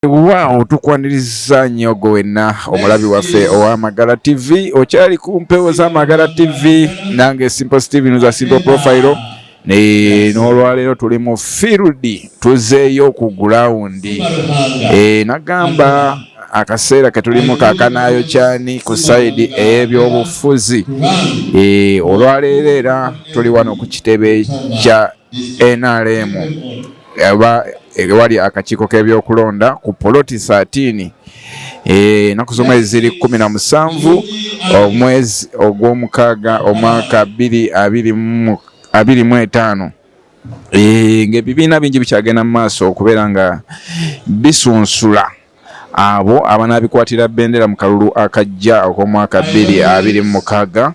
Wow, tukwaniriza nnyo gwe wenna omulabi waffe owa Magala TV. Okyali ku mpewo za Magala TV, nange Simple Steven za Simple Profile. Ne n'olwaleero tuli mu field, tuzeeyo ku ground. Eh, nagamba akaseera ketulimu kakanaayo kyani ku sayidi ey'ebyobufuzi eh, olwaleero era tuli wano ku kitebe kya nrm oba ewali akakiiko k'ebyokulonda ku poloti saatini eh, ennaku z'omwezi ziri kumi na musanvu omwezi ogw'omukaaga omwaka bbiri abiri mu etaano eh, ng'ebibiina bingi bikyagenda mu maaso okubeera nga bisunsula Abo abanaabikwatira bbendera mu kalulu akajja ak'omwaka bbiri abiri mu mukaaga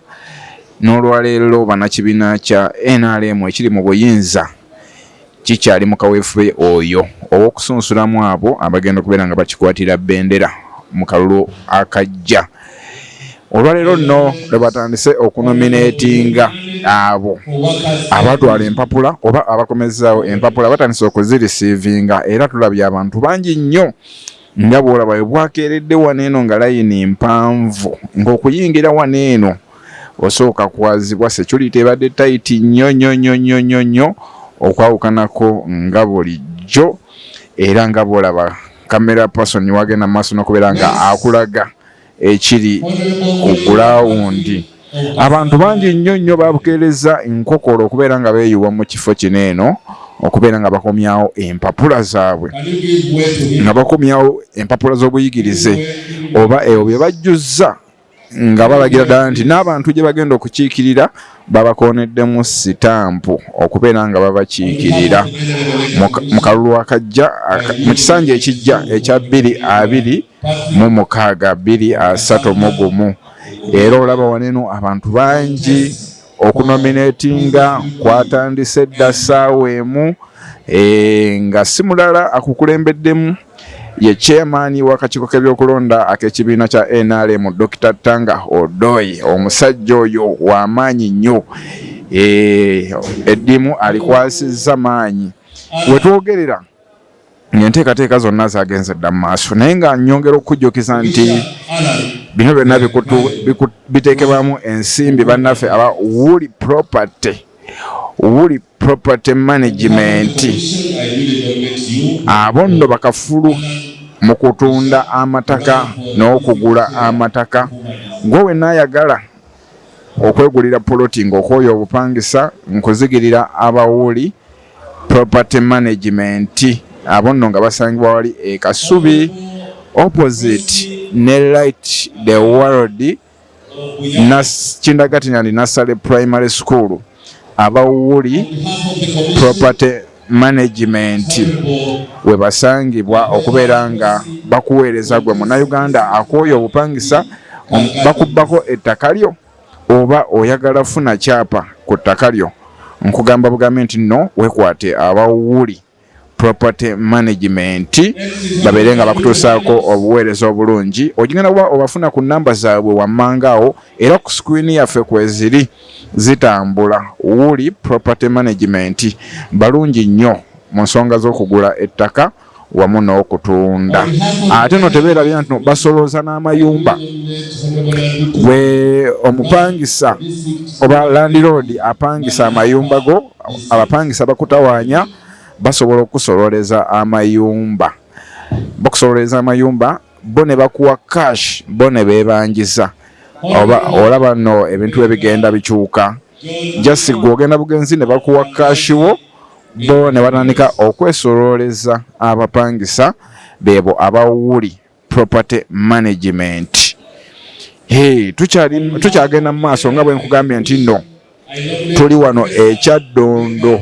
n'olwaleero bannakibiina kya nrm ekiri mu buyinza kikyali mu kaweefube oyo ow'okusunsulamu abo abagenda okubeera nga bakikwatira bbendera mu kalulu akajja. Olwaleero nno lwe batandise okunomineetinga abo abatwala empapula oba abakomezzaawo empapula batandise okuzirisiivinga era tulabye abantu bangi nnyo nga bw'olaba we bwakeeredde wano eno nga layini mpanvu ng'okuyingira wano eno osooka kwazibwa security ebadde tayiti nnyo nnyo nnyo nnyo nnyo nnyo okwawukanako nga bulijjo era nga bw'olaba kamera person wagenda mu maaso n'okubeera nga akulaga ekiri ku gulawundi. Abantu bangi nnyo nnyo babukeerezza enkokola okubeera nga beeyuwa mu kifo kino eno okubeera nga bakomyawo empapula zaabwe nga bakomyawo empapula z'obuyigirize oba ebyo bye bajjuzza nga balagira ddala nti n'abantu gye bagenda okukiikirira babakooneddemu sitampu okubeera nga babakiikirira mu kalulu akajja mu kisanja ekijja ekya bbiri abiri mu mukaaga bbiri asatu mu gumu era olaba waneno abantu bangi okunominatinga kwatandise dda ssaawa emu eh, nga si mulala akukulembeddemu ye chairman w'akakiiko k'ebyokulonda ak'ekibiina kya nrm dr tanga odoi omusajja oyo w'amaanyi nnyo eh, eddimu alikwasizza maanyi wetwogerera ng'enteekateeka zonna zagenze dda mu maaso naye nga nyongera okukujjukiza nti bino byonna biteekebwamu ensimbi bannaffe aba wuli property wuli property management abo nno bakafulu mu kutunda amataka n'okugula amataka gwe wenna ayagala okwegulira poloti ng'okwoyo obupangisa nkuzigirira abawuli property management abo nno nga basangibwa wali e kasubi opposite ne light the world kindagati nandi nasale primary school abawuli property management webasangibwa okubeera nga bakuweereza gwe munauganda akooyo obupangisa bakubbako ettaka lyo Oba oyagala funa kyapa ku ttaka lyo nkugamba bugambi nti nno wekwate aba Wooli Property Management babeere nga bakutuusaako obuweereza obulungi. Ogigenda kuba obafuna ku nnamba zaabwe wammanga awo era ku sikwini yaffe kweziri zitambula. Wooli Property Management balungi nnyo mu nsonga z'okugula ettaka. wamu n'okutunda ate no tebeerabira nti basolooza n'amayumba gwe omupangisa oba landiroodi apangisa amayumba go abapangisa bakutawaanya basobola okukusololeza amayumba bakusololeza amayumba bo ne bakuwa cash bo ne beebanjiza oba olaba no ebintu ebigenda bikyuka jasi gwe ogenda bugenzi ne bakuwa kashi wo bo ne batandika okwesolooleza abapangisa beebo aba wuli property management tukyagenda mu maaso nga bwe nkugambye nti nno tuli wano ekyaddondo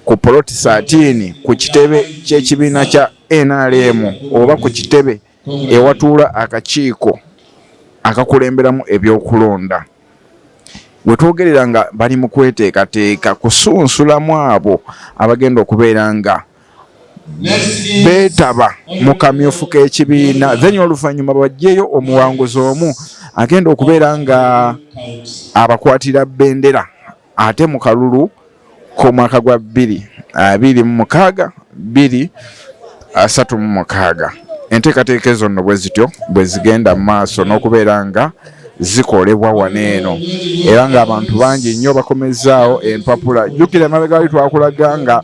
ku poloti saatiini ku kitebe ky'ekibiina kya nrm oba ku kitebe ewatuula akakiiko akakulemberamu ebyokulonda wetwogerera nga bali mu kweteekateeka kusunsulamu abo abagenda okubeera nga beetaba mu kamyufu k'ekibiina then oluvannyuma bajjeyo omuwanguzi omu agenda okubeera nga abakwatira bendera ate mu kalulu k'omwaka gwa bbiri abiri mu mukaaga bbiri asatu mu mukaaga enteekateeka ezo nno bwe zityo bwe zigenda mu maaso n'okubeera nga zikolebwa wano eno era ng'abantu bangi nnyo bakomezzaawo empapula jjukira emabega wali twakulaga nga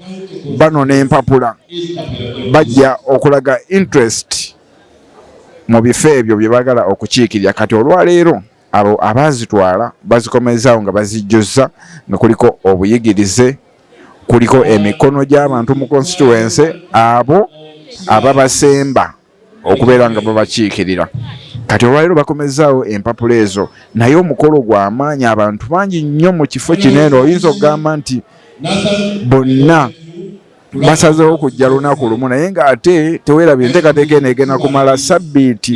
bano n'empapula bajja okulaga interest mu bifo ebyo bye baagala okukiikirira kati olwaleero abo abaazitwala bazikomezaawo nga bazijjuzza nga kuliko obuyigirize kuliko emikono gy'abantu mu constituency abo ababasemba okubeera nga babakiikirira kati olwaliro bakomezaawo empapula ezo naye omukolo gw'amaanyi abantu bangi nnyo mu kifo kino eno oyinza okugamba nti bonna basazeewo kujja lunaku lumu naye ng'ate tewerabye enteekateeka eno egenda kumala sabbiiti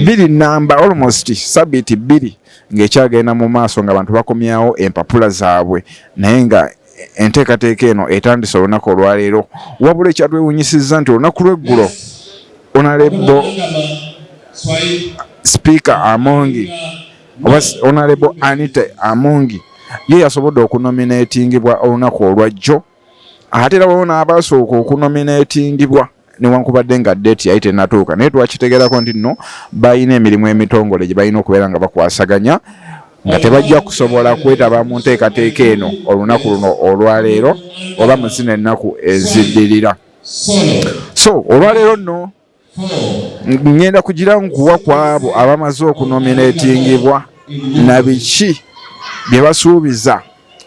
bbiri namba almost sabbiiti bbiri ng'ekyagenda mu maaso nga bantu bakomyawo empapula zaabwe naye nga enteekateeka eno etandise olunaku olwaleero wabula ekyatwewunyisizza nti olunaku lweggulo onalebo sipiika amongi oba onalebo anita amongi ye yasobodde okunominatingibwa olunaku olwajjo ate era waliwo n'abaasooka okunomineetingibwa newankubadde nga deeti yali tenatuuka naye twakitegerako nti nno balina emirimu emitongole gye balina okubeera nga bakwasaganya nga tebajja kusobola kwetaba mu nteekateeka eno olunaku luno olwaleero oba mu zino ennaku eziddirira so olwaleero nno ngenda kugira nkuwa ku abo abamaze okunominatingibwa na biki bye basuubiza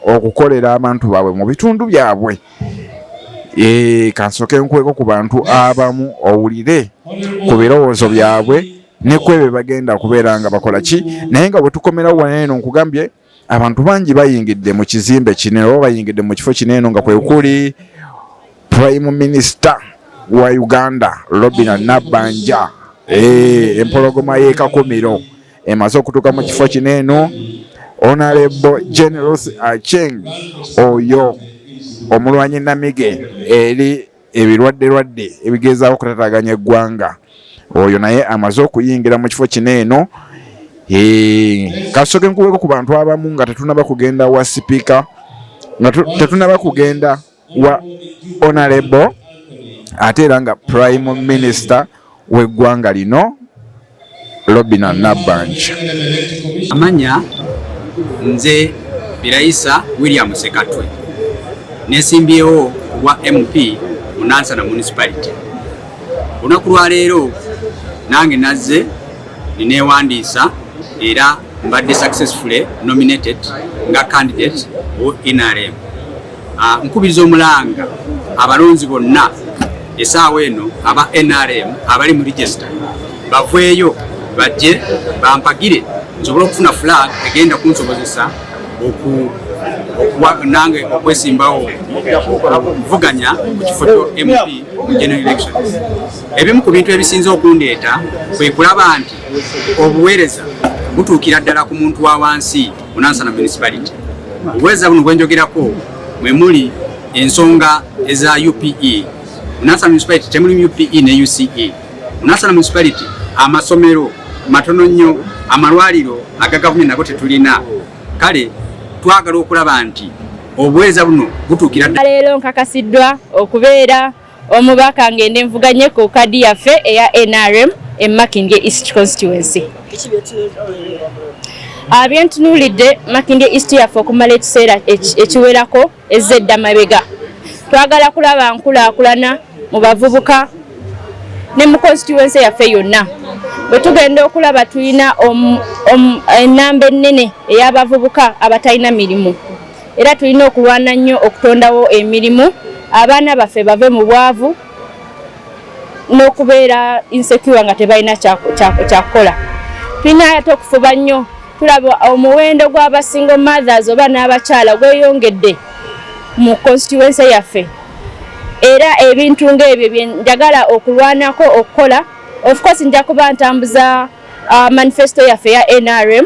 okukolera abantu baabwe mu bitundu byabwe eh, kansoke nkweko ku bantu abamu owulire ku birowoozo byabwe nekwebyo bagenda kubeera nga bakola ki naye nga bwetukomerawo wanaeno nkugambye abantu bangi bayingidde mu kizimbe kino oba bayingidde mu kifo kino eno nga kwe kuli prime minister wa uganda robina nabbanja eh, empologoma y'ekakumiro emaze okutuuka mu kifo kino eno onalebo generals acheng oyo omulwanyi namige eri ebirwadde lwadde ebigezaako okutataganya eggwanga oyo naye amaze okuyingira mu kifo kino eno kasoke nkuweko ku bantu abamu nga tetunaba kugenda wa sipiika nga tetunaba kugenda wa onarebo ate era nga prime minister w'eggwanga lino Robina Nabbanja. Amanya nze Birayisa William Sekatwe nesimbyewo obwa MP mu Nansana Municipality. Olunaku lwa leero nange nazze nineewandiisa era mbadde successfully nominated nga candidate o NRM. Ah, nkubiriza omulanga abalonzi bonna esaawa eno aba nrm abali mu regisita baveeyo bajje bampagire nsobole okufuna flag egenda kunsobozesa nange okwesimbawo okuvuganya ku kifo kyo mp mu general elections ebimu ku bintu ebisinze okundeeta kwe kulaba nti obuweereza butuukira ddala ku muntu wa wansi Munansana Municipality. Obweza buno bwenjogerako mwe muli ensonga eza UPE. Munansana Municipality temuli UPE ne UCE. Munansana Municipality amasomero matono nnyo, amalwaliro aga gavumenti nago tetulina. Kale twagala okulaba nti obweza buno butuukira ddala. Leero nkakasiddwa okubeera omubaka ngende nvuganye ku kadi yaffe eya nrm e makindye east constituency abyentunuulidde ah, makindye east yaffe okumala ekiseera ekiwerako ezza edda mabega twagala kulaba nkulaakulana mu bavubuka ne mu constituency yaffe yonna bwe tugenda okulaba tulina ennamba ennene ey'abavubuka abatalina mirimu era tulina okulwana nnyo okutondawo emirimu abaana baffe bave mu bwavu n'okubeera insecure nga tebalina kyakukola tulina ate okufuba nnyo tulaba omuwendo gw'abasingo mothers oba n'abakyala gweyongedde mu constituency yaffe era ebintu ng'ebyo byenjagala okulwanako okukola of course nja kuba ntambuza uh, manifesto yaffe ya nrm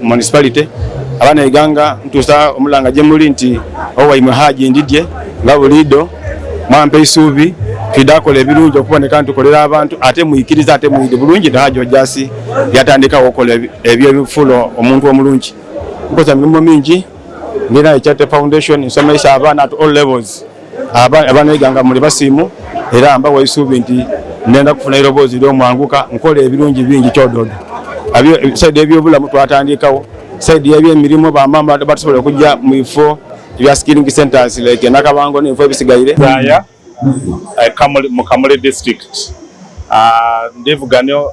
municipality abaana eganga ntuusa omulanga gye muli nti owaimwe haji ndidye nga buliido mwampa eisuubi twidde akola ebirungi okuboneka nti tukolera abantu ate muikiriza ate muide bulungi nahaji ojasi yatandikawo okola ebyo ebifulo omuntu omulungi nkoza mirimu mingi ndina ekyate foundation nsomesa abaana at all levels abaneeganga muli basiimu era mbawa esuubi nti nenda kufuna eroboozi lyomwanguka nkola ebirungi bingi kyododo saidi ebyobulamu twatandikawo saidi yebyemirimu bamama batusobola okujja mu bifo ebya skilling centers like nakabango nebifo ebisigaire eh, mukamuli district ah, ndivuganyo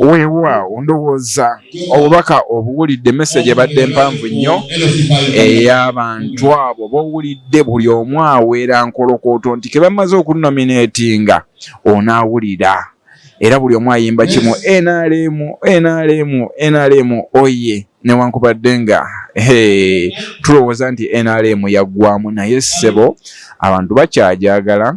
weewaawo ndowooza obubaka obuwulidde message ebadde mpanvu nnyo ey'abantu abo bowulidde buli omu aweera nkolokooto nti ke bamaze okunominatinga onaawulira era buli omu ayimba kimu nrm nrm nrm oye newankubadde nga tulowooza nti nrm yaggwamu naye ssebo abantu bakyajagala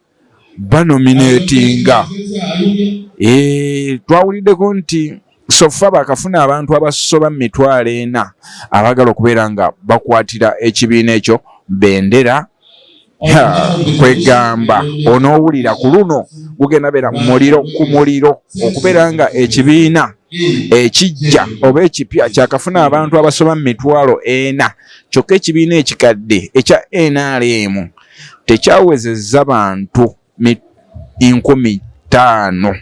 banominetinga eh, twawuliddeko nti sofa bakafuna abantu abasoba mu mitwalo ena abagala okubeera nga bakwatira ekibiina ekyo bendera kwegamba onowulira ku luno gugenda beera muliro ku muliro okubeera nga ekibiina ekijja oba ekipya kyakafuna abantu abasoba mu mitwalo ena kyokka ekibiina ekikadde ekya nrm tekyawezezza bantu nkumi ttaano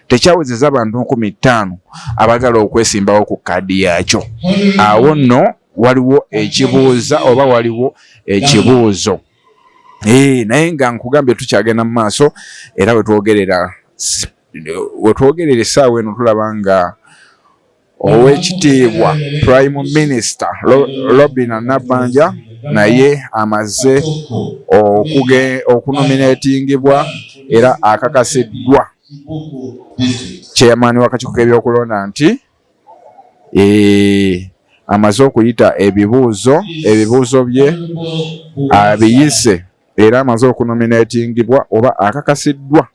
tekyawezeza abantu nkumi ttaano abagala okwesimbawo ku kaadi yaakyo awo nno waliwo ekibuuza oba waliwo ekibuuzo eh, naye nga nkugambye tukyagenda mu maaso era wetwogerera wetwogerera essaawa eno tulaba nga Ow'ekitiibwa Prime Minister Robinah Nabbanja naye amaze okunomineetingibwa era akakasiddwa chairman w'akakiiko k'ebyokulonda nti eh, amaze okuyita ebibuuzo ebibuuzo bye abiyise era amaze okunominatingibwa oba akakasiddwa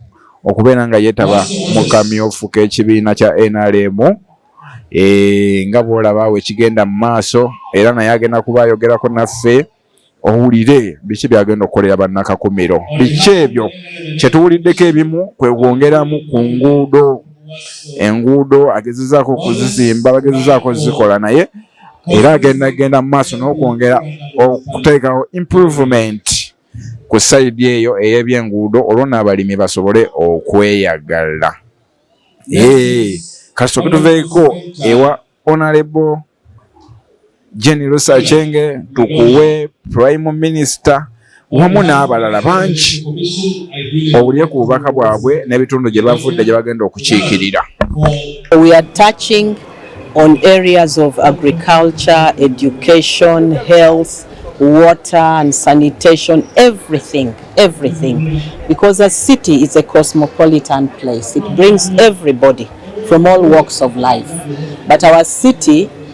okubeera nga yeetaba mu kamyufu k'ekibiina kya nrm eh, nga bwolaba awo ekigenda mu maaso era naye agenda kuba ayogerako naffe owulire biki byagenda okukolera bannakakumiro biki ebyo kyetuwuliddeko ebimu kwegwongeramu ku nguudo enguudo agezezaako okuzizimba bagezezaako zikola naye era agenda genda mu maaso n'okwongera okuteekawo improvement ku sayidi eyo ey'ebyenguudo olwo n'abalimi basobole okweyagala kasita okutuveeko ewa onalebo jeni lusa chenge tukuwe prime minister wamu n'abalala bangi owulire ku bubaka bwabwe n'ebitundu gye bavudde gye bagenda okukiikirira We are touching on areas of agriculture, education, health, water and sanitation, everything, everything. Because a city is a cosmopolitan place. It brings everybody from all walks of life. But our city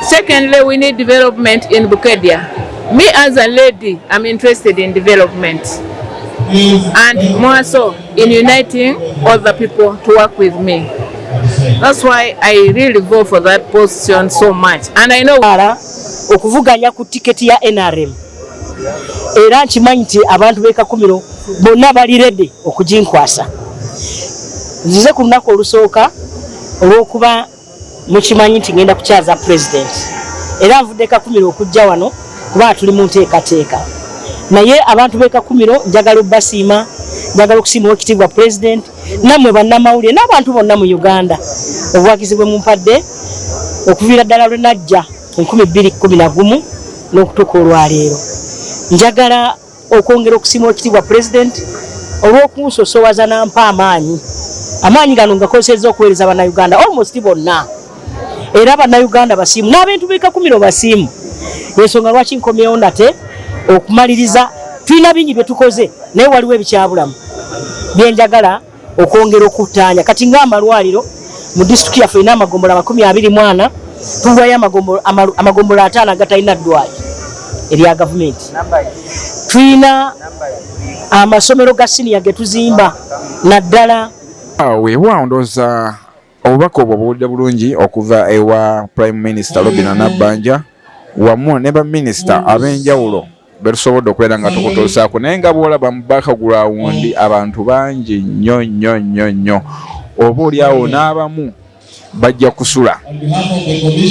Secondly, we need development in Bukedia. Me as a lady, I'm interested in development. And more so in uniting all the people to work with me. That's why I really go for that position so much. And I know okuvuganya ku ticket ya NRM. Era nkimanyi nti abantu bekakumiro bonna bali ready okuginkwasa. Nzize ku lunaku olusooka olw'okuba Mukimanyi nti ngenda kukyaza president era nvudde kakumiro okujja wano kuba tuli mu nteekateeka naye abantu b'e kakumiro njagala obbasiima njagala okusiima owekitiibwa president nammwe bannamawulire n'abantu bonna mu uganda obuwagizi bwe mumpadde okuviira ddala lwe najja enkumi bbiri kkumi na gumu n'okutuuka olwaleero njagala okwongera okusiima okitiibwa pulezidenti olw'okunsosowaza nampa amaanyi amaanyi gano ngakozeseza okuweereza bannayuganda almost bonna era bannayuganda basiimu n'abantu bekakumiro basiimu ensonga lwaki nkomyewo nate okumaliriza tulina bingi bye tukoze naye waliwo ebikyabulamu byenjagala okwongera okuttaanya kati ng'amalwaliro mu disitulikiti yaffe erina amagombolo amakumi abiri mwana tuwayo amagombolo ataano agatalina ddwayo erya gavumenti tulina amasomero ga siniya ge tuzimba naddala weewaawo ndooza Obubaka obwo buwulidde bulungi okuva ewa Prime Minister Robina Nabbanja wamu ne baminisita ab'enjawulo betusobodde okubeera nga tukutuusaako naye nga bwolaba mu bakagulawundi abantu bangi nnyo nnyo nnyo nnyo oba olyawo n'abamu bajja kusula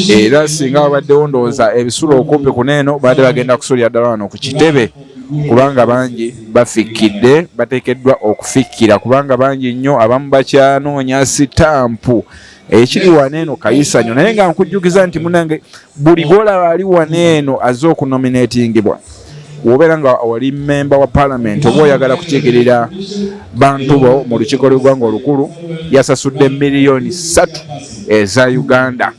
era singa babaddewo ndowooza ebisula okumpi kuneeno baadde bagenda kusulira ddala wano ku kitebe kubanga bangi bafikkidde bateekeddwa okufikkira kubanga bangi nnyo abamu bakyanoonya sitampu ekiri wano eno kayisanyo naye nga nkujjukiza nti munange buli gwolaba ali wano eno azze okunominatingibwa wobeera nga oli memba wa palamenti oba oyagala kukiikirira bantu bo mu lukiiko lwegwanga olukulu yasasudde miliyoni satu eza uganda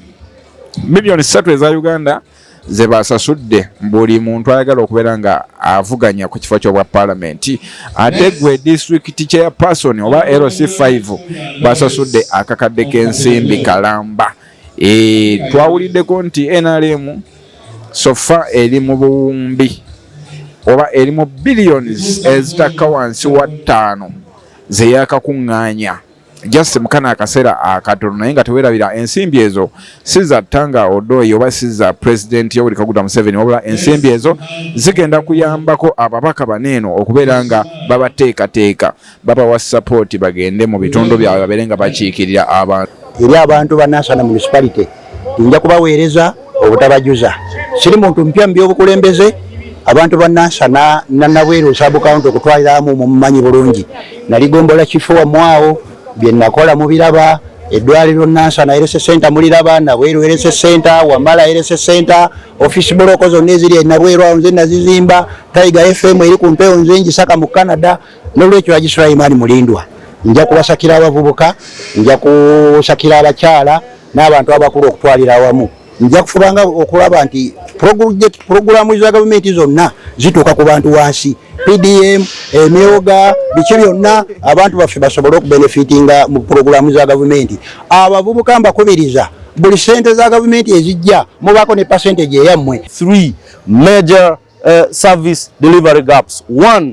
miliyoni satu eza uganda ze basasudde buli muntu ayagala okubeera nga avuganya ku kifo kyobwa palamenti ate gwe district chair person oba lc 5 basasudde akakadde k'ensimbi kalamba e, twawuliddeko nti nrm sofa eri mu buwumbi oba eri mu billions ezitakka wansi wa ttaano zeyakakuŋŋaanya just mukana akasera akatono naye nga tewerabira ensimbi ezo siza tanga odoi oba siza president yoweri kaguta museveni wabula ensimbi ezo zigenda kuyambako ababaka baneeno okubeera nga babateekateeka babawa sapoti bagende mu bitundu byabwe babeere nga bakiikirira abantu eri abantu ba national municipality nja kubaweereza obutabajuza siri muntu mpya mu byobukulembeze abantu banansa nanabweru sabukawunti okutwaliramu mumumanyi bulungi nali gombola kifo wamwawo byenakola mubiraba edwaliro nansa naerese senta muliraba nabweru erese senta wamala erese senta ofisi buloko zonna eziri enabweru awo nze nazizimba taiga fm eri ku mpewo nze njisaka mu canada Nolwekyo Haji Sulaiman Mulindwa nja kubasakira abavubuka, nja kusakira abakyala n'abantu abakulu okutwalira awamu nja kufubanga okulaba nti pulogulaamu za gavumenti zonna zituuka ku bantu wansi pdm emyoga biki byonna abantu baffe basobole okubenefitinga mu pulogulaamu za gavumenti abavubuka mbakubiriza buli sente za gavumenti ezijja mubaako ne pasentage eyammwe 3 major uh, service delivery gaps 1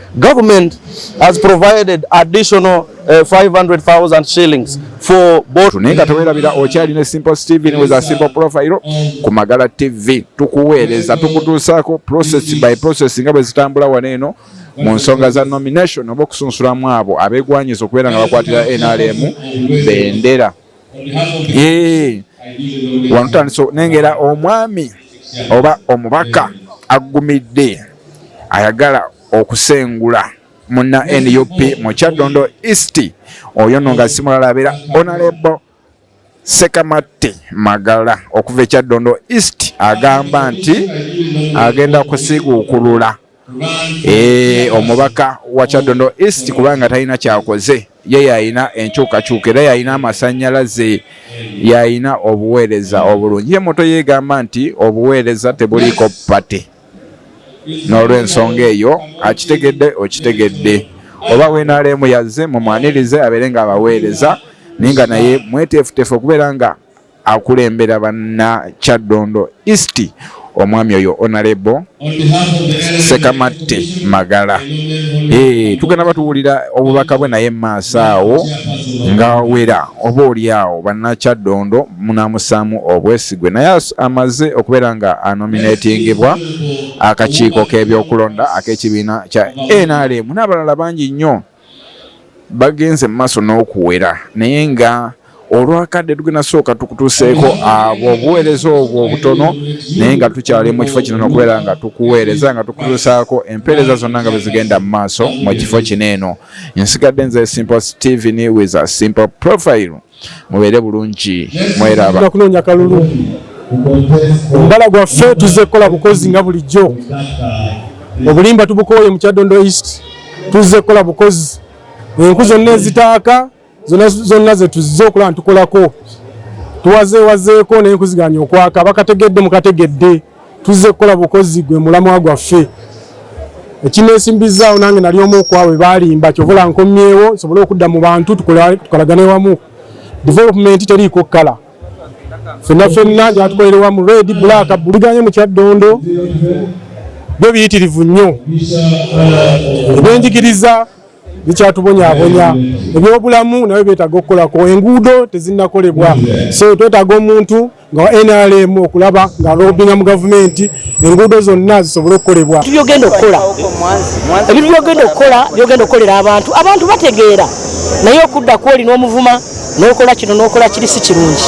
Government has provided additional uh, 500,000 shillings for both. Naye nga tewerabira okyali ne Simple Steven with a simple profile ku Magala TV tukuweereza tukutuusaako process by process nga bwe zitambula wano eno mu nsonga za nomination oba okusunsulamu abo abegwanyiza okubeera nga bakwatira NRM bendera. wanutandisa nengera omwami oba omubaka aggumidde ayagala okusengula muna nup mu kyaddondo east oyo no nga simulala abeera onalebo sekamatte magala okuva ekyaddondo east agamba nti agenda kusiguukulula Eh, omubaka wa kyadondo east kubanga talina kyakoze ye yalina enkyukakyuka era yalina amasanyalaze yalina obuweereza obulungi ye moto yegamba nti obuweereza tebuliiko pate n'olwensonga eyo akitegedde okitegedde oba wenaleemu yazze mumwanirize abeere nga abaweereza naye nga naye mweteefuteefu okubeera nga akulembera banna kyaddondo east omwami oyo onalebo sekamatte magala eh, tugenda batuwulira obubaka bwe naye maaso awo nga wera oba oli awo banakyaddondo munamusaamu obwesigwe naye amaze okubeera nga anominatingebwa akakiiko k'ebyokulonda ak'ekibiina kya nrm n'abalala bangi nnyo bagenze mu maaso n'okuwera naye nga olwakadde tugenda sooka tukutuuseeko abo obuweereza obwo obutono naye nga tukyali mu kifo kino nokubeera nga tukuweereza nga tukutuusaako empeereza zonna nga bwezigenda mu maaso mu kifo kino eno nsigadde nze simple steven with a simple profile mubeere bulungi mweraba tujja kunoonya kalulu mbala gwaffe tuzze kukola bukozi nga bulijjo obulimba tubukooye mu kyadondo east tuzze kukola bukozi enku zonna ezitaaka zonna zetuzze okulaba nitukolako tuwazeewazeeko naye nkuziganya okwaka bakategedde mukategedde Tuzze kukola bukozi gwe mulamwa gwaffe. Ekinesimbizzaawo nange nali omu kwabwe balimba kyovola nkomyewo nsobole okudda mu bantu tukolagane wamu. Development teriiko kkala. Fenna fenna gyatukolere wamu red black buliganye mu kyaddondo byo biyitirivu nnyo. Ebyenjigiriza bikyatubonyabonya ebyobulamu nabyo byetaaga okukolako enguudo tezinakolebwa so twetaaga omuntu nga nrm okulaba nga lobinga mu gavumenti enguudo zonna zisobole okukolebwa byogenda okukola ebintu byogenda okukola byogenda okukolera abantu abantu bategeera naye okudda kwoli n'omuvuma nokola kino nokola kiri si kirungi